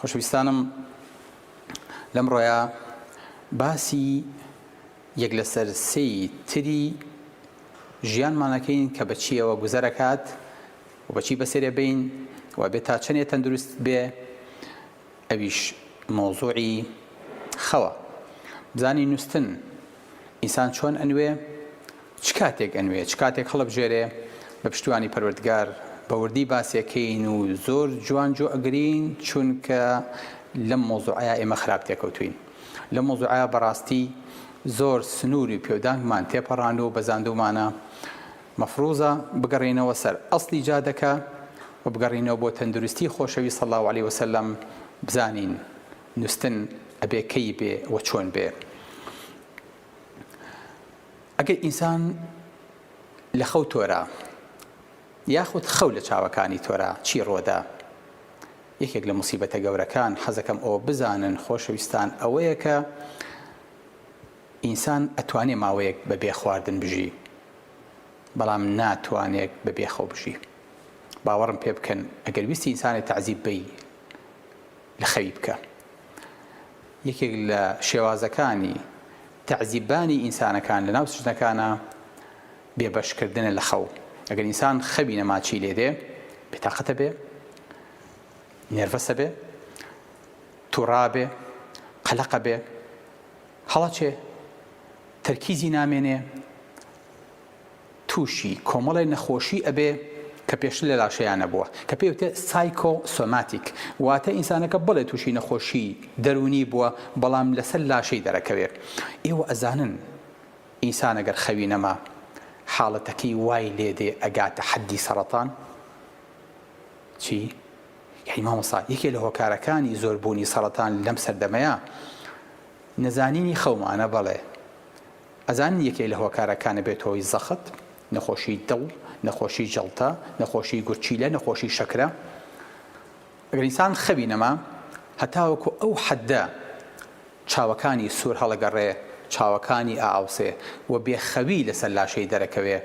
خۆشەویستانم لەمڕۆیە باسی یەک لەسەر سێی تری ژیانمانەکەین کە بەچیەوە گوزەرەکات و بەچی بەسێرێ بین و بێ تا چەندێ تەندروست بێ ئەویش مۆزوعی خەوە بزانی نووستن ئینسان چۆن ئەنوێ چ کاتێک ئەنوێ چ کاتێک هەڵەبژێرێ بە پشتیوانی پەروەردگار بە وردی باسیەکەین و زۆر جوان جۆ ئەگرین چونکە لەم مەوزوعەیا ئێمە خراپ تێکەوتوین لەم مەوزوعەیا بەڕاستی زۆر سنوری پێودانگمان تێپەڕاند و بەزاندومانە مەفروزە بگەڕێینەوە سەر ئەسلی جادەکە و بگەڕینەوە بۆ تەندروستی خۆشەوی صلی الله علیه وسلم بزانین نوستن ئەبێ کەی بێ و چۆن بێ ئەگەر ئینسان لە خەو تۆرا یاخود خەو لە چاوەکانی تۆرا چی ڕۆدا یەکێک لە مصیبەتە گەورەکان حەزەکەم ئەوە بزانن خۆشەویستان ئەوەیە کە ئینسان ئەتوانێ ماوەیەک بە بێ خواردن بژی بەڵام ناتوانێت بە بێخەو بژی باوەڕم پێ بکەن ئەگەر ویستی ئینسانی تعزیب بی لخەی بکە یەکێک لە شێوازەکانی تەعزیبانی ئینسانەکان لە ناو سجنەکانا بێ بەش کردنە لە خەو ئەگەر ئینسان خەوی نەما چی لێ دێ بێتاقەتە بێ نێرڤەسە بێ توڕابێ قەلەقە بێ هەڵەچێ تەرکیزی نامێنێ تووشی کۆمەڵێ نەخۆشی ئەبێ کە پێشتر لە لاشەیا نەبووە کە پێی وترێ سایکۆ سۆماتیک واتە ئینسانەکە بەڵێ تووشی نەخۆشی دەروونی بووە بەڵام لەسەر لاشەی دەرەکەوێ ئێوە ئەزانن ئینسان ئەگەر خەوی نەما حاڵەتەکەی وای لێ دێ ئەگاتە حەدی سەڕەتان چی یەی مامۆسا یەکێ لە هۆکارەکانی زۆر بوونی سەڕەتان لەم سەردەمەیە نەزانینی خەومانە بەڵێ ئەزانن یەکێک لە هۆکارەکانە بێتە هۆی زەخت، نەخۆشی دڵ، نەخۆشی جەڵتە، نەخۆشی گورچیلە، نەخۆشی شەکرە. ئەگەر ئینسان خەوی نەما، هەتاوەکو ئەو حەددە چاوەکانی سوور هەڵەگەڕێ، چاوەکانی ئائاوسێ و بێ خەوی لەسەر لاشەی دەرەکەوێ،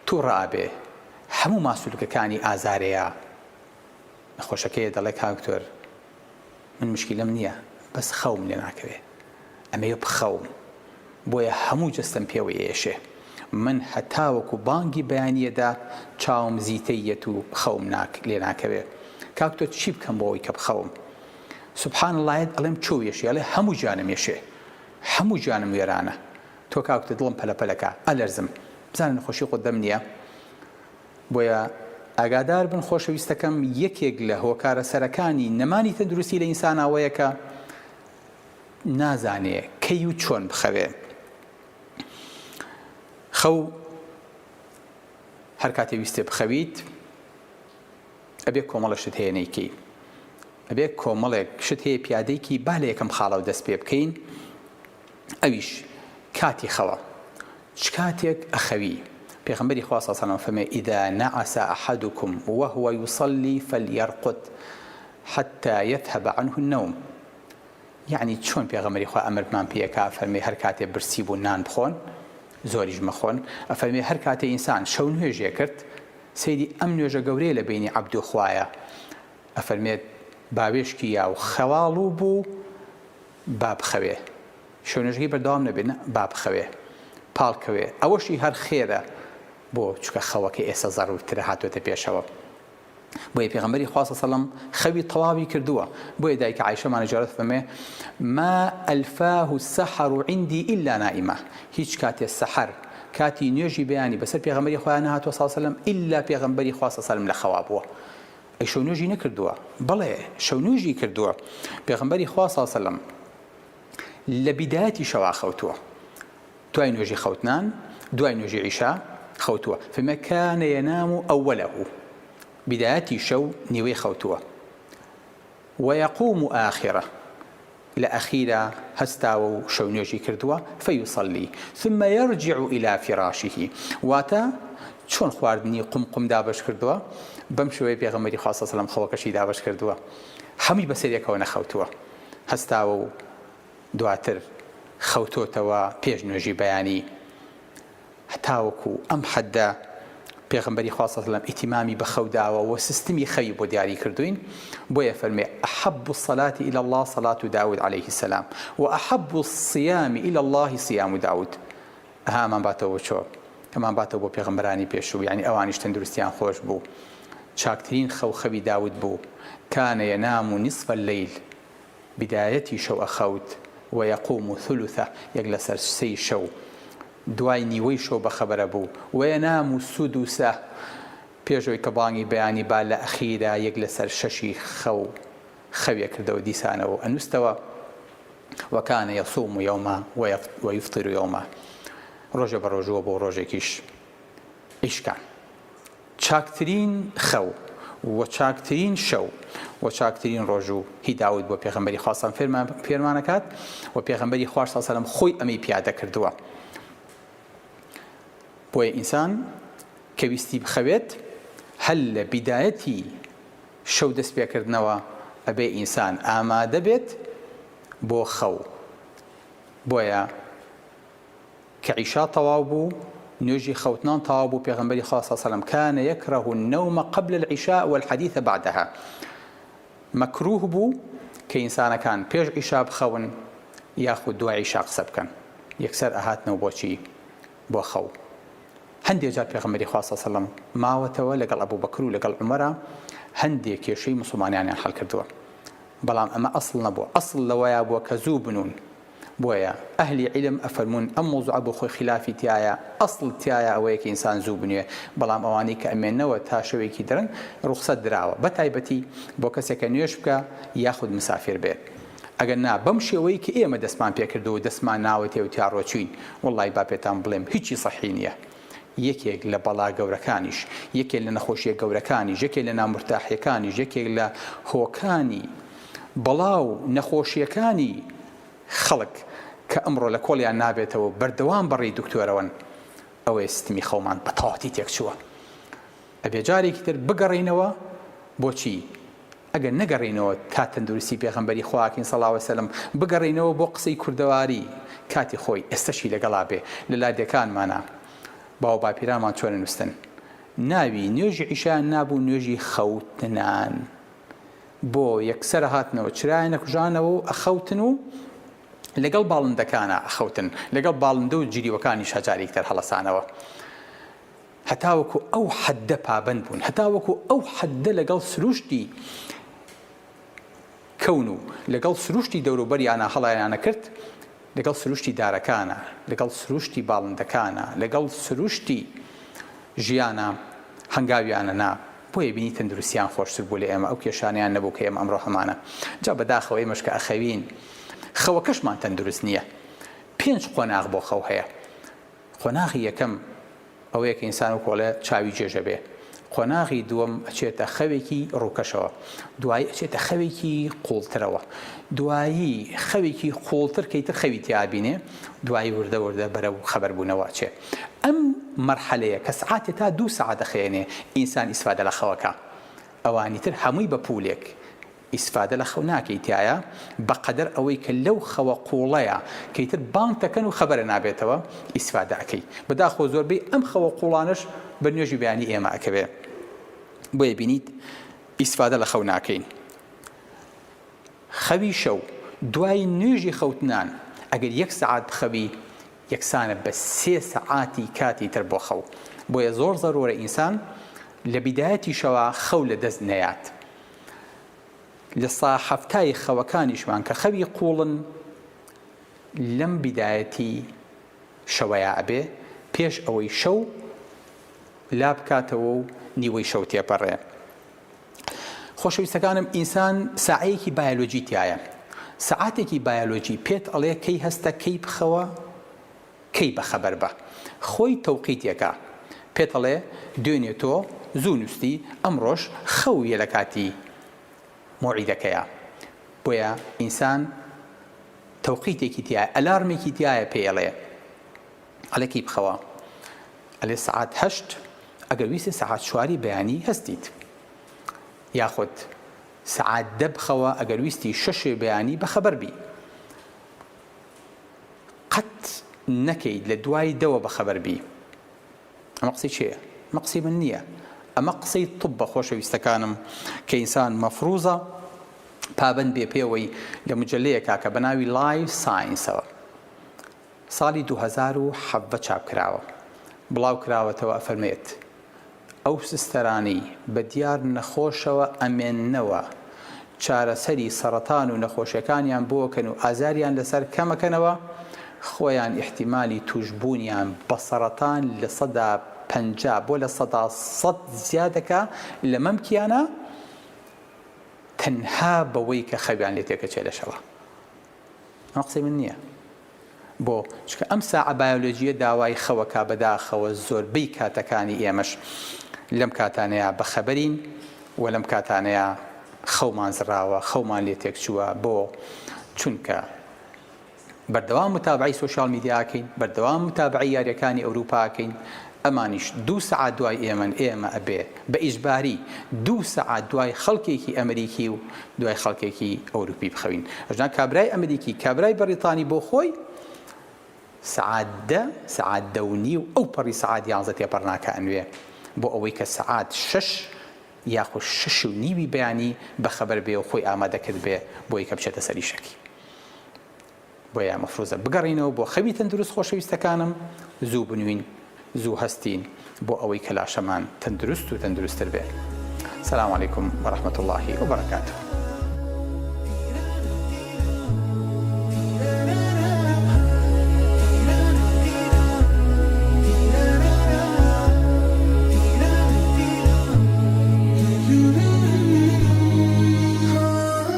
تووڕە ئەبێ، هەموو ماسولکەکانی ئازارێیا. نەخۆشەکەیە دەڵێ کاک دکتۆر، من مشکیلەم نیە بەس خەوم لێ ناکەوێ ئەمەوێ بخەوم بۆیە هەموو جەستەم پێوە یەیەشێ من هەتاوەکو بانگی بەیانی یەدا چاوم زیتەی یەت و خەوم ناک لێ ناکەوێ کاک تۆ چی بکەم بۆ ئەوەی کە بخەوم سبحان اللە یەت ئەڵێم چۆ یەشێ ئەڵێ هەموو جانم یەشێ هەموو جانم وێرانە تۆ کاک تۆ دڵم پەلە پەلەکا ئەلەرزم بزانە نەخۆشی قوتبم نیە بۆیە ئاگادار بن خۆشەویستەکەم یەکێک لە هۆکارە سەرەکانی نەمانی تەندروستی لە ئینسان ئەوەیە کە نازانێ کەی و چۆن بخەوێ خەو هەر کاتێ ویستێ بخەویت ئەبێ کۆمەڵە شت هەیە نەیکەی ئەبێ کۆمەڵێک شت هەیە پیادێکی با لە یەکەم خاڵەوە دەست پێ بکەین ئەویش کاتی خەوە چ کاتێک ئەخەوی پێغەمبەری خوا صلی اللە علیە و سلم فەرمووی اذا نعس احدکم وهو یصلی فلیرقد حتی یذهب عنه النوم یەعنی چۆن پێغەمبەری خوا ئەمرمان پێکا فەرمووی هەر کاتێ برسی بوو نان بخۆن زۆریش مەخۆن ئەفەرمووی هەر کاتێ ئینسان شەو نوێژێ کرد سەیری ئەم نوێژە گەورەیە لە بینی عەبد و خوایە ئەفەرمێت باوێشکی یا و خەواڵوو بوو با بخەوێ شوێنەژەکەی بەردەوام نەبێ نا با بخەوێ پاڵ کەوێ ئەوەشی هەر خێرە بۆ چونکە خەوەکە ئێستا زەڕورترە هاتۆتە پێشەوە بۆیە پێغەمبەری خوا سەلم خەوی تەواوی کردووە بۆیە دایکە عیشەمانە جارت فەمێ ما ئەلفاه السحر و عندی ئللا نائیمە هیچ کاتێ سەحر کاتی نوێژی بەیانی بەسەر پێغەمبەری خۆیان نهاتوە ساسەلم ئللا پێغەمبەری خوا سەسەلم لە خەوا بووە ئەی شەونوێژی نەکردووە؟ بەڵێ شەونوێژی کردووە، پێغەمبەری خوا صلی اللە علیه و سلم لە بیدایەتی شەوا خەوتووە، دوای نوێژی خەوتنان، دوای نوێژی عیشا خەوتووە، فەرموویە کان ینام اوله، بیدایەتی شەو نیوەی خەوتووە، ویقوم آخرە، لە ئەخیرا هەستاوە و شەونوێژی کردووە، فیصلی، ثم یرجع الی فراشه، واتە، چۆن خواردنی قومقم دابەش کردووە، بەم شێوەیە پێغەمبەری خوا صلی اللە علیه و سلم خەوەکەشی دابەش کردووە، هەمووی بەسەریەکەوە نەخەوتووە، هەستاوە و دواتر خەوتۆتەوە پێش نوێژی بەیانی. هەتاوەکو ئەم حەددە پێغەمبەری خوا صلی اللە ئیتیمامی بە خەو داوە و سیستمی خەوی بۆ دیاری کردووین، بۆیە فەرمووی، احب الصلات الی اللە صلاة داود علیە السلام و احب الصیام الی اللە صیام داود. ئەها ئەمان باتەوە بۆ چۆ؟ ئەمان باتەوە بۆ پێغەمبەرانی پێشوو، یەعنی ئەوانیش تەندروستیان خۆش بوو. چاکترین خەو خەوی داود بوو، کان ینام نصف اللیل، بدایەتی شەو ئەخەوت، و یقوم ثلثه، یەک لەسەر سێی شەو. دوای نیوەی شەو بەخەبەرە بوو وەیەنام و سودوسە پێشەوەی کە بانگی بەیانی با لە ئەخیرا یەک لەسەر شەشی خەو خەوێ کردەوە دیسانەوە و ئەنوستەوە وکان یصوم یوما ویفطر یوما ڕۆژێ بە ڕۆژووە بوو ڕۆژێکیش ئیشکان. چاکترین خەو و چاکترین شەو و چاکترین ڕۆژوو هی داود بووە پێغەمبەری خوا سەم فێرمان فێرمان ئەکات و پێغەمبەری خواش سەڵ سەلەم خۆی ئەمەی پیادە کردووە بۆیە ئینسان کە ویستی بخەوێت هەل لە بیدایەتی شەو دەست پێکردنەوە ئەبێ ئینسان ئامادە بێت بۆ خەو بۆیە کە عیشا تەواو بوو نوێژی خەوتنان تەواو بوو پێغەمبەری خوا صلی سلم کان یکره النوم قبل العشاء والحدیث بعدها مەکروه بوو کە ئینسانەکان پێش عیشا بخەون یاخود دوای عیشا قسە بکەن یەکسەر ئەهاتنەوە بۆچی بۆ خەو هەندێک جار پێغەمبەری خوا صلی سلم ماوەتەوە لەگەڵ ئەبو بەکر و لەگەڵ عمرە هەندێک کێشەی مسلمانانیان حل کردووە بەڵام ئەمە ئەسڵ نەبووە ئەسڵ لەوەیە بووە کە زوو بنوون بۆیە ئەهلی عیلم ئەفەرموون ئەم مەوزوعە بۆ خۆی خیلافی تیایە ئەسڵ تیایە ئەوەیە کە ئینسان زوو بنوێ بەڵام ئەوانەی کە ئەمێنەوە تا شەوێکی درەنگ ڕوخسەت دراوە بەتایبەتی بۆ کەسێک کە نوێژ بکا یاخود مسافیر بێ ئەگەر نا بەم شێوەی کە ئێمە دەستمان پێ کردووە و دەستمان ناوەتێ و تیا ڕۆچووین وەڵڵای با پێتان بڵێم هیچی سەحی نیە یەکێک لە بەڵا گەورەکانیش، یەکێک لە نەخۆشییە گەورەکانیش، یەکێک لە نامورتاحییەکانیش، یەکێک لە هۆکانی بەڵا و نەخۆشییەکانی خەڵک کە ئەمڕۆ لە کۆڵیان نابێتەوە و بەردەوام بە ڕێی دکتۆرەوەن، ئەوەیە ستمی خەومان بە تەواوەتی تێکچووە. ئەبێ جارێکی تر بگەڕێینەوە بۆچی؟ ئەگەر نەگەڕێینەوە تا تەندروستی پێغەمبەری خواکین صلی اللە وسلم بگەڕێینەوە بۆ قسەی کوردەواری کاتی خۆی ئێستەشی لەگەڵا بێ لە لادێکانمانا باو باپیرانمان چۆن ئەنوستن ناوی نوێژی عیشایان نابوو نوێژی خەوتنان بۆ یەکسەر ئەهاتنەوە چرایان ئەکوژانەوە و ئەخەوتن و لەگەڵ باڵندەکانا ئەخەوتن لەگەڵ باڵندە و جریوەکانیشا جارێکتر هەڵەسانەوە. هەتاوەکو ئەو حەددە پابەند بوون، هەتاوەکو ئەو حەددە لەگەڵ سروشتی کەون و لەگەڵ سروشتی دەوروبەریانە هەڵایانەکرد، لەگەڵ سروشتی دارەکانە، لەگەڵ سروشتی باڵندەکانە، لەگەڵ سروشتی ژیانە هەنگاویانە نا، بۆیە بینی تەندروستیان خۆشتر بوو لە ئێمە، ئەو کێشانەیان نەبوو کە ئێمە ئەمڕۆ هەمانە. جا بەداخەوە ئێمەش کە ئەخەوین، خەوەکەشمان تەندروست نییە. پێنج قۆناغ بۆ خەو هەیە. قۆناغی یەکەم ئەوەیە کە ئینسان وەکو ئەڵێ چاوی جێژە بێ، قۆناغی دووەم ئەچێتە خەوێکی ڕووکەشەوە، دوایی ئەچێتە خەوێکی قووڵترەوە، دوایی خەوێکی قووڵتر کە ئیتر خەوی تیا ئەبینێ، دوایی وردە وردە بەرەو خەبەر بوونەوە ئەچێ. ئەم مەرحەلەیە کە سەعاتێ تا دوو سەعات ئەخەێنێ ئینسان ئیسفادە لە خەوەکا، ئەوانی تر هەمووی بە پوولێک ئیسفادە لە خەو ناکەی تیایا بە قەدەر ئەوەی کە لەو خەوە قوڵەیا کە ئیتر بانگ تەکەن و خەبەرە نابێتەوە ئیسفادە ئەکەی بە داخۆ زۆربەی ئەم خەوە قوڵانەش بە نوێژی بەیانی ئێمە ئەکەوێ بۆیە بینیت ئیسفادە لە خەو ناکەین خەوی شەو دوای نوێژی خەوتنان ئەگەر یەک سعات بخەوی یەکسانە بە سێ سەعاتی کاتی تر بۆ خەو بۆیە زۆر زەرورە ئینسان لە بیدایەتی شەوا خەو لە دەست نەیات لە سا حەفتای خەوەکانیشمان کە خەوی قوڵن لەم بیدایەتی شەوەیا ئەبێ پێش ئەوەی شەو لابکاتەوە و نیوەی شەو تێپەڕێ خۆشەویستەکانم ئینسان سعەیەکی بایلۆجی تایە سعاتێکی بایلۆجی پێت ئەڵێ کەی هەستە کەی بخەوە کەی بەخەبەر بە خۆی تەوقیت یەکا پێت ئەڵێ دوێنێ تۆ زوو نوستی ئەمڕۆش خەو یە لەکاتی مەوعیدەکەیا بۆیە ئینسان تەوقیتێکی تیایە ئەلارمێکی تیایە پێی ئەڵێ ئەڵێ کەی بخەوە ئەلێ سەعات هەشت ئەگەر ویستی سەعات چواری بەیانی هەستیت یاخود سەعات دە بخەوە ئەگەر ویستی شەشێ بەیانی بەخەبەر بی قەت نەکەیت لە دوای دەوە بەخەبەر بی ئەمە قسەی چێە ئەمە قسەی من نییە ئەمە قسەی طبە خۆشەویستەکانم کە ئینسان مەفروزە پابەند بێ پێوەی لە مجلەیە کاکە بە ناوی لای ساینسەوە ساڵی 2017 چاپ کراوە بڵاو کراوەتەوە ئەفەرمێت ئەو سستەرانەی بە دیار نەخۆشەوە ئەمێننەوە چارەسەری سەڕەتان و نەخۆشیەکانیان بۆکەن و ئازاریان لەسەر کەمەکەنەوە خۆیان ئیحتیمالی توشبونیان بە سەڕەتان لە سەدا پەنجا بۆ لە سەدا سەد زیادەکا لە مەمکیانە تەنها بەوەی کە خەویان لێ تێکەچێ لەشەوا ئەمە قسەی من نیە. بۆ؟ چونکە ئەم ساعە بایۆلۆجییە داوای خەوە کا بەداخەوە زۆربەی کاتەکانی ئێمەش لەم کاتانەیا بەخەبەرین و لەم کاتانەیا خەومان زڕاوە خەومان لێ تێکچووە بۆ؟ چونکە بەردەوام متابعەی سۆشیال میدیا ئەکەین بەردەوام متابعەی یاریەکانی ئەوروپا ئەکەین ئەمانیش دوو سەعات دوای ئێمەن، ئێمە ئەبێ بە ئیجباری دوو سەعات دوای خەڵکێکی ئەمریکی و دوای خەڵکێکی ئەوروپی بخەوین. ئەژنا کابرای ئەمریکی، کابرای بەڕیتانی بۆ خۆی سەعات دە، سەعات دە و نیو ئەو پەڕی سەعات یانزە تێپەڕ ناکا ئەنوێ بۆ ئەوەی کە سەعات شەش یاخود شەش و نیوی بەیانی بەخەبەر بێ و خۆی ئامادە کردبێ بۆی کە بچێتە سەر ئیشەکی. بۆیە مەفروزە بگەڕینەوە بۆ خەوی تەندروست خۆشەویستەکانم زوو بنوین زوو هەستین بۆ ئەوەی کە لاشەمان تەندروست و تەندروستر بێ سلام علیکم ورحمت اللە وبرکاته.